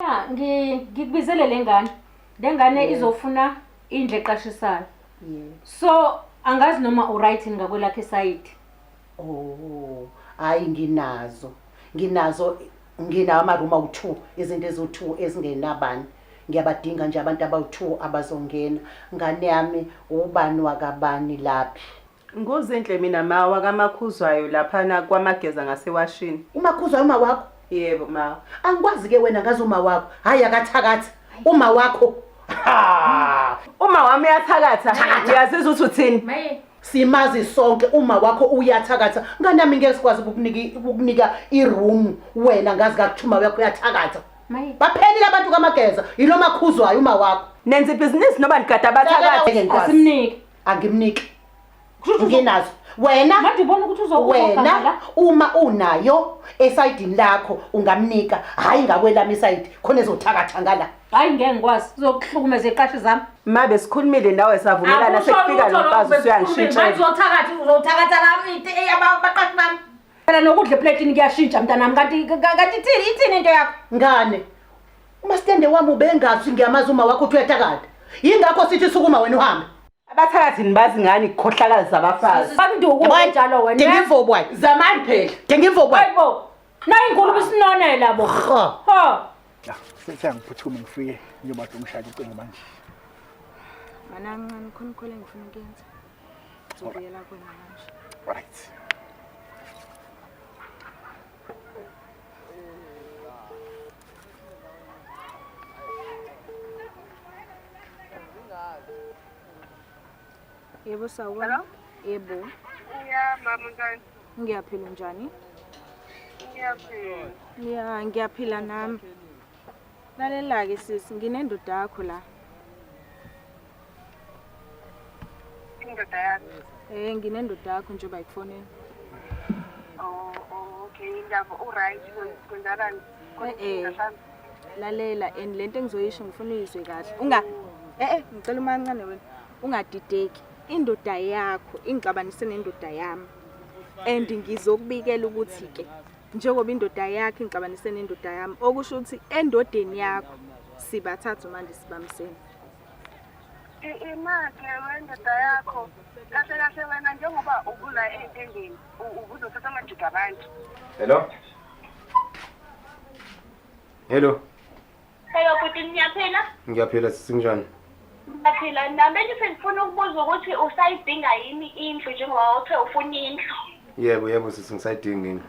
Ya, ngi- ngikubizele le ngane le ngane Yeah. izofuna indlu eqashisayo Yeah. so angazi noma uright yini ngakwelakhe sayidi Oh, hayi nginazo. Nginazo nginawo amaruma u2, izinto ezu2 ezingenabani. Ngiyabadinga nje abantu abawu2 abazongena. Ngane yami ubani wakabani laphi? Nguzinhle mina ma wakamakhuzwayo laphana kwamageza ngasewashini. Umakhuzwayo uma wakho? Yebo ma. Angikwazi ke wena ngazi uma wakho. Hayi akathakathi. Uma wakho. Ha! Uma wami uyathakatha. Uyazizwa ukuthi uthini? Maye. Simazi sonke uma wakho uyathakatha. Nganami ngeke sikwazi ukukunika ukukunika iroom wena ngazi kakuthuma yakho uyathakatha. Maye. Baphelile abantu kamageza. Yilo makhuzwayo uma wakho. Nenza ibhizinisi noma nigada abathakathi. Asimnike. angimniki Kushuthi uzo- nginazo wena Manje ubona ukuthi uzo- uzoganga wena la? uma unayo esayidini lakho ungamnika hhayi ngakwelami isayidi khona ezothakatha ngala Hayi ngeke ngikwazi. Uzokuhlukumeza iqashi zami. ma besikhulumile nawe savumelana Akusho sekufika lutho lo mfazi lokhu, usuyangishintsha besikhulumile. Manje uzothakatha uzothakatha lami into eyabaqashi bami. Phela nokudla eplatini kuyashintsha mntanami kanti kanti ithini ithini into yakho? Ngane. Umastende wami ubengazi ngiyamazi uma wakho uthwetha kade. Yingakho sithi sukuma wena uhambe. Abathakathini bazi ngani ikhohlakala zabafazi. Bakunduku njalo wena. Dinga imvobo wayi. Zamani phela. Dinga imvobo wayi. Hayibo. Nayi inkulumo isinone labo. Ho. Ho. Ya, sithe ngiphuthume ngifike ngiyobatha umshado ucingo manje. Mana ngincane khona khona engifuna ukuyenza. Zobuyela kwena manje. Right. Yebo sawubona. Yebo. Yeah, mama njani? Ngiyaphila njani? Ngiyaphila. Yeah, ngiyaphila nami. Lalela-ke sisi, nginendoda yakho la. Indoda yakho. Eh nginendoda yakho nje bayifonela. Oh, oh okay indaba u right kwenzakalani? Eh, eh. Lalela and lento engizoyisho ngifuna uyizwe kahle. Unga eh eh ngicela umancane wena. Ungadideki. Indoda yakho ingixabanise nendoda yami. And ngizokubikela ukuthi ke njengoba indoda yakhe ingixabanise nendoda yami okusho ukuthi endodeni yakho sibathathu manje sibamsene. imake wendoda yakho kahle kahle wena njengoba ubula ey'ntendeni ubuzothatha amajuda abantu hello hello hello bhuti niyaphila ngiyaphila sisinjani ngiyaphila nami bengithi ngifuna ukubuza ukuthi usayidinga yini indlu njengoba uthe ufuna indlu yebo yebo sisi ngisayidinga indlu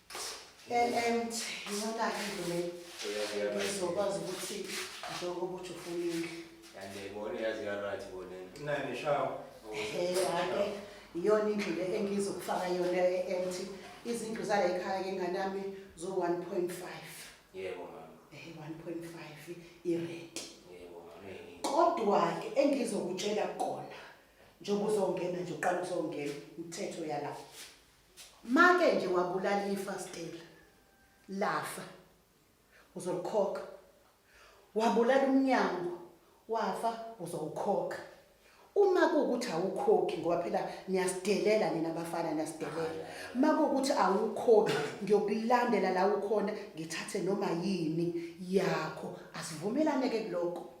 emt iyona-ke into le ezokwazi ukuthi njengoba uthi ufuna indlu andiyayibona yazi yarathi bonena nani shawo hake iyona indlu le engizokufaka yona e-emt izindlu zala ekhaya ke nganami zo-one point five yebo mama um one point five irenti yebo mama kodwa-ke engizokutshela kona njengoba uzongena nje uqala uzongena umthetho yalapho Make nje wabulala ifa Stella. Lafa. Uzolikhokha. Wabulala umnyango wafa uzowukhokha. Uma kuwukuthi awukhokhi ngoba phela niyasidelela nina abafana niyasidelela. Uma kuwukuthi awukhokhi ngiyokulandela la ukhona ngithathe noma yini yakho. Asivumelane ke kuloko.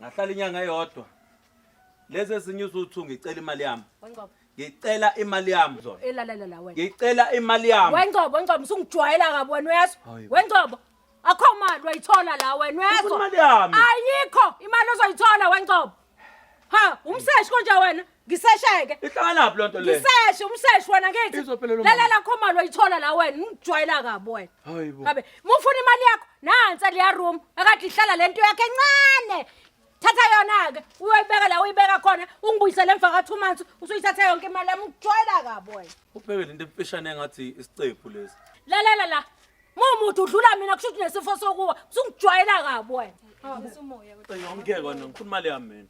ngahlala inyanga eyodwa lezi ezinye uzuthu ngicela imali yami wengcobo ngicela imali yami zona elalela la wena ngicela imali yami wengcobo wengcobo usungijwayela kabi wena uyezwa Hayi bo. wengcobo akho mali wayithola la wena Ufuna uyezwa imali yami? ayikho imali ozoyithola wengcobo ha umseshi konje wena ngisesheke ihlakanaphi loo nto le ngiseshe umseshi wena ngithi Izophelelwa mama. lalela khomalo ayithola la wena ngijwayela kabi wena Hayi bo. kabe mufuna imali yakho nansi aliya room akade ihlala le nto yakhe encane thatha yona-ke uyoyibeka la uyibeka khona ungibuyisele emva ka-two months usuyithatha yonke imali yami ngijwayela kabi wena ubheke le nto emfishane engathi isicephu lesi lalela la Mumuthi udlula mina kusho ukuthi nesifo sokuwa usungijwayela kabi wena. Ngeke wena ngifuna imali yami mina.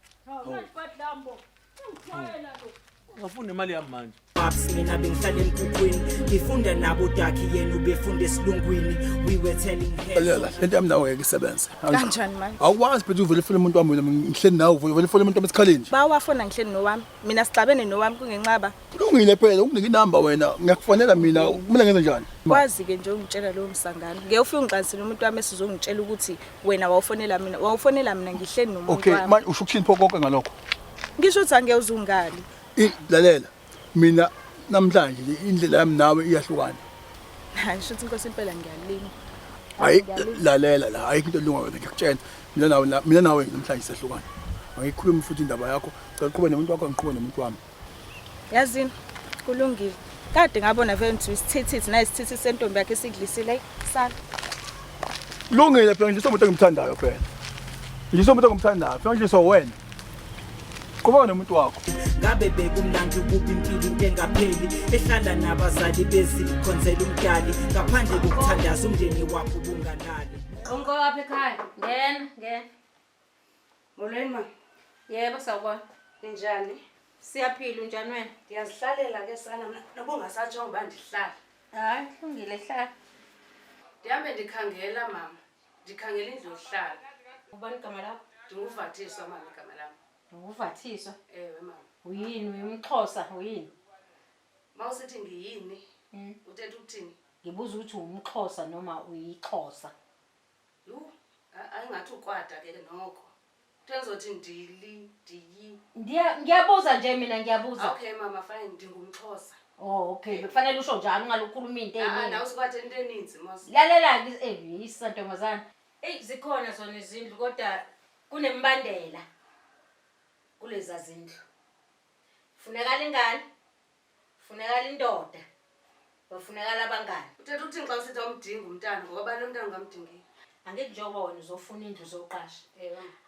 Ngafuna imali yami manje. Babs mina bengihlala emkhukhwini ngifunda nabo dakhi yena ubefunda esilungwini we were telling her Lela, lento yami nawe ngeke isebenze. Kanjani manje? Awukwazi phethu uvele ufuna umuntu wami wena ngihleli nawe uvele ufuna umuntu wami esikhaleni nje. Bawafona ngihleli nowami. Mina sixabene nowami kungenxaba. Kulungile phela ukunike inamba wena ngiyakufanela mina mina ngenze njani? Kwazi ke nje ungitshela lowo msangano. Ngeke ufike ungiqansele umuntu wami esizongitshela ukuthi wena wawufonela mina. Wawufonela mina ngihleni nomuntu Okay, wami. manje usho ukuthini pho konke ngalokho? Ngisho ukuthi angeke uzungale. I- Lalela. Mina namhlanje nje indlela yami nawe iyahlukana. Hayi ngisho ukuthi inkosi impela ngiyalinga. Hayi lalela la ayikho into elunga wena ngiyakutshela. Mina nawe la- mina nawe namhlanje sehlukana. Angikhulumi futhi indaba yakho. Cela uqhube nomuntu wakho ngiqhube nomuntu wami. Yazini kulungile. Kade ngabona vele ngithi isithithi naye isithithi sentombi yakhe sidlisile sala. Lungile phela ngidliswa umuntu engimthandayo phela. Ngidliswa umuntu engimthandayo phela ngidliswa wena. Qhubeka nomuntu wakho. ngabe bekumnandi ukuba impilo into engapheli ehlala nabazali bezikhonzela umdali ngaphandle kokuthandaza umndeni wakho ubungalali Umko wapha ekhaya. Ngena, ngena. Molweni ma. Yebo sawubona. Ninjani? Siyaphila unjani wena? Ndiyazihlalela ke sana mna noba ungasatsho ngoba ndihlala. Hayi kulungile hlala. Ndihambe ndikhangela mama. Ndikhangela indlu yokuhlala. Ubani igama lakho? Ndinguvathiswa mama igama lam. Ndinguvathiswa? Ewe mama. Uyini uyumxhosa uyini? Ma usithi ngiyini? Mm. Uthetha ukuthini? Ngibuza ukuthi wumxhosa noma uyixhosa. Yhu, a- ayi ngathi ukwada ke noko. Kuthe ngizothi ndili, ndiyi. Ndiya- ngiyabuza nje mina ngiyabuza Okay mama fine ndingumxhosa. oh okay bekufanele usho njalo ungalukhuluma into Ah, ah, eyiningi nawe sikwade into eninzi mos. lalela-ke eh, yisa ntombazane eyi zikhona zona izindlu kodwa kunembandela kuleza zindlu funakala ingane Funekala indoda. Bafunekala abangani. Uthetha uthini xa usithi awumdingi umntana ngoba abanye umntana ungamdingeki. Angithi njengoba wena uzofuna indlu uzoqasha.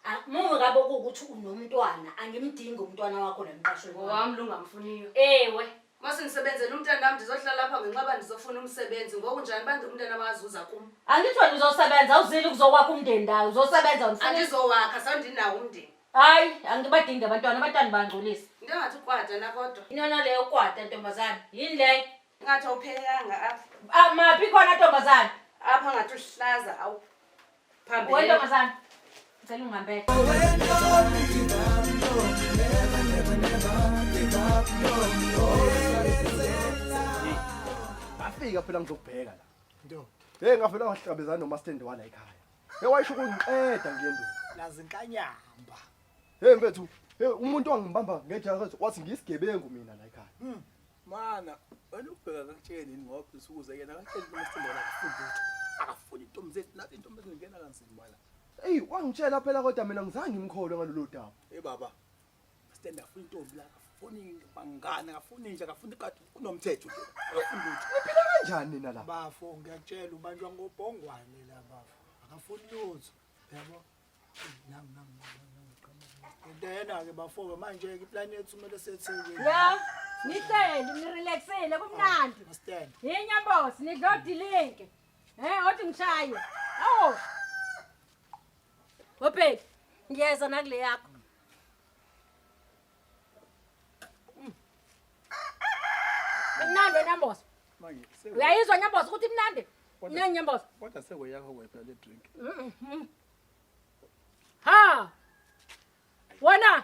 Ah, Mume kabe kuwukuthi unomntwana angimdingi umntwana wakho la emqashweni wami. Ngowami lungamfuniyo. Ewe. Uma sendisebenzela umntana wami ndizohlala lapha ngenxaba ndizofuna umsebenzi. Ngoku njani bantu umntana bazuza kum? Angithi wena uzosebenza awuzile ukuzokwakha umndeni ndawo uzosebenza wena ufuna- Andizowakha sandinawo umndeni. Hayi, angibadingi abantwana, abantwana bangcolisa. Into engathi ukwata la kodwa. Inona leyo ukwata ntombazane. Yini leyo? Ngathi awuphelelanga apha. Ah, maphi khona ntombazane? Apha ngathi uhlaza awu. Phambili. Wena ntombazane. Ngicela ungihambele. Bafika phela ngizokubheka la. Nto. Hey ngavela wahlangabezana nomastendi wala ekhaya. Hey wayisho ukungiqeda nje ndoda. Nazinkanyamba. Hey mfethu, hey umuntu ongibamba ngejakazi wathi ngisigebengu mina la ekhaya. Hmm. Mana, wena ubheka kakutsheni yini ngoba usukuze yena kakutsheni ukuthi sithembela kufundi ukuthi akafuni intombi zethu nathi intombi ezingena kanzima la. Ey wangitshela phela kodwa mina ngizange ngimkholwe ngalolu daba. Hey baba, Stand up intombi la akafuni bangana akafuni nje akafuni kade kunomthetho nje akafuni lutho. Niphila kanjani nina la? Bafo ngiyakutshela ubanjwa ngobhongwane la bafo. Akafuni lutho. Yabo. Nam nam nam. Ndena ke bafo manje ke plan yethu kumele setheke. Ya, nihleli nirelaxile kumnandi. Stand. Yinya boss, nidla odilinke. Eh, othi ngishaye. Awu. Obheki, ngiyeza nakule yakho. Imnandi wena mbozo. Manje seko Uyayizwa nyambozo ukuthi imnandi? Kodwa- Nani nyambozo? kodwa seko yakho kwepha le drink. Ha. Wena.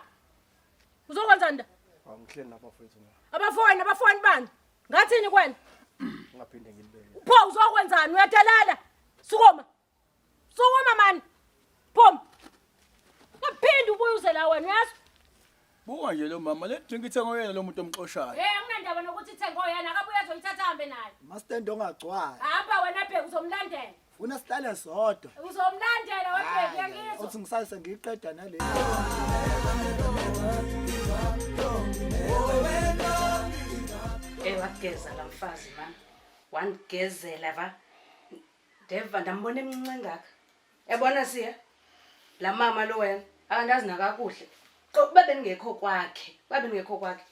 Uzokwenza nda? Angihleli lapha mfethu mina. Abafowenu abafowenu bani? Ngathini kwena? Ungaphinde ngilibeke. Pho uzokwenzani? Uyadelela. Sukuma. Sukuma mani. Phom. Ngaphinde ubuye uze la wena uyazi? Buka nje lo mama le drink ithenga oyena lo muntu omxoshayo. Eh anginandaba nokuthi ithenga oyena akabuye azoyithatha hambe naye. Mastendo ongagcwala. Hamba wena bheka uzomlandela. Funa sihlale sodwa. Uzomlandela webheka uyangizwa. Uthi ngisase ngiqeda nale. Ewa geza la mfazi mama. Wanigezela va. Ndeva ndambona emncinci engaka. Yabona siya la mama lo wena akandazi nakakuhle. Qo uba bengekho kwakhe, uba bengekho kwakhe.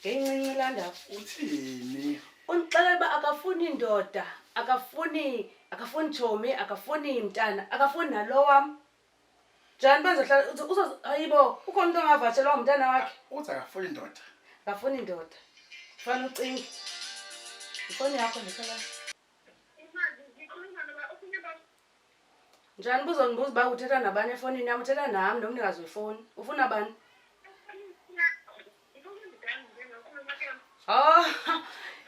Ngencinci la ndawo. Uthini? Undixelela uba akafuni ndoda, akafuni akafuni tshomi, akafuni mntana, akafuni nalo wam. Njani uba ndizohlala uzo- uzo- hayibo ukhona umntu ongavatshelwa ngumntana wakhe? Uthi akafuni ndoda. Akafuni ndoda. Fanele ucinge. Yifoni yakho ndifela. Njani buzondibuza uba uthetha nabani efonini yam uthetha nam nomnikazi wefoni ufuna bani oh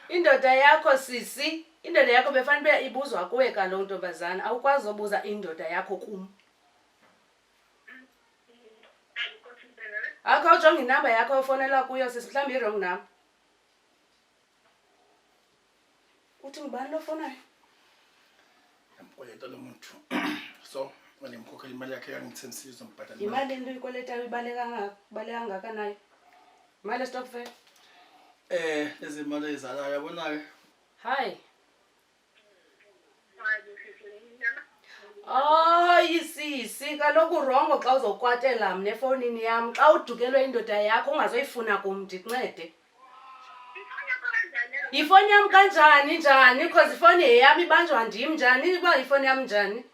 indoda yakho sisi indoda yakho befanele uba ibuzwa kuwe kaloku ntombazana awukwazi obuza indoda yakho kum akho ujonga inamba yakho ofonela kuyo sisi mhlawumbi i-wrong number Uthi ngubani lo fonayo? Ngikweleta lo muntu. So, manje ngikhokhela imali yakhe yangithembisile uzombhadala. Imali into ikweleta ibaleka ngaka, baleka ngaka nayo. Imali estokvel. Eh, lezi mali ezalayo yabona ke. Hi. Hayi sisi, kaloku urongo xa uzokwatela mna efowunini yam xa udukelwe indoda yakho ungazoyifuna kum ndikuncede. Yifoni yam kanjani njani because ifoni yeyam ibanjwa ndim njani uba yifoni yam njani?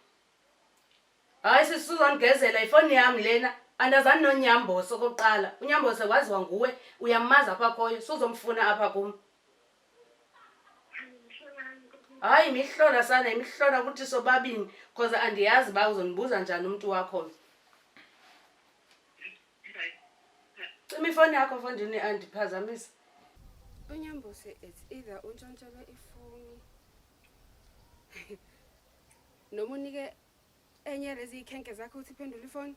Hayi sisi suzondigezela yifoni yam lena andazani nonyambosi okokuqala. Unyambosi waziwa nguwe uyamazi apha khoyo suzomfuna apha kum. hayi imihlona sana imihlona ukuthi sobabini cause andiyazi uba uzondibuza njani umntu wakho cima ifoni yakho fondini andiphazamisa unyambose it's either untshontshelwe ifoni noma unike enye lezi ikhenke zakho ukuthi iphendule ifoni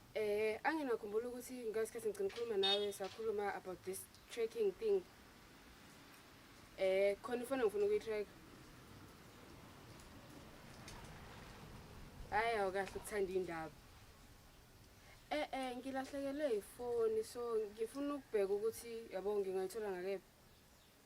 Eh anginakhumbula ukuthi ngesikhathi ngicela ukukhuluma nawe sakhuluma about this tracking thing. Eh khona ifona ngifuna ukuyitrack. Hayi awukahle ukuthanda indaba. Eh eh ngilahlekelwe ifoni so ngifuna ukubheka ukuthi yabo ngingayithola ngakephi.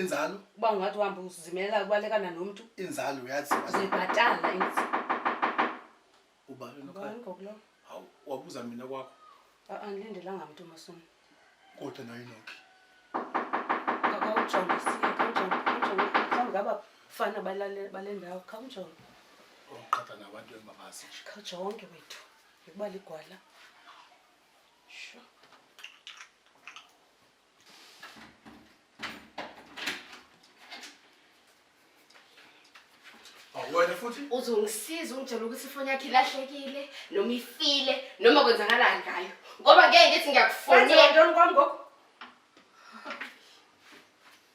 inzalo uba ungathi uhambe uzimelela ubalekana nomntu inzalo uyazi zibhatala ubani nokhaya hawu wabuza mina kwakho angilindelanga mntu masona kodwa nayo inokhi khawujonge siye khawujonge khawujonge mhlawumbi ngaba fana bale ndawo khawujonge uqhatha nabantu engingabazi nje khawujonge wethu ngikuba ligwala sure wena futhi uzongisiza ungitshela ukuthi ifoni yakhe ilahlekile noma ifile noma kwenzakalani ngayo ngoba ngeke ngithi ngiyakufonela kwami ngoku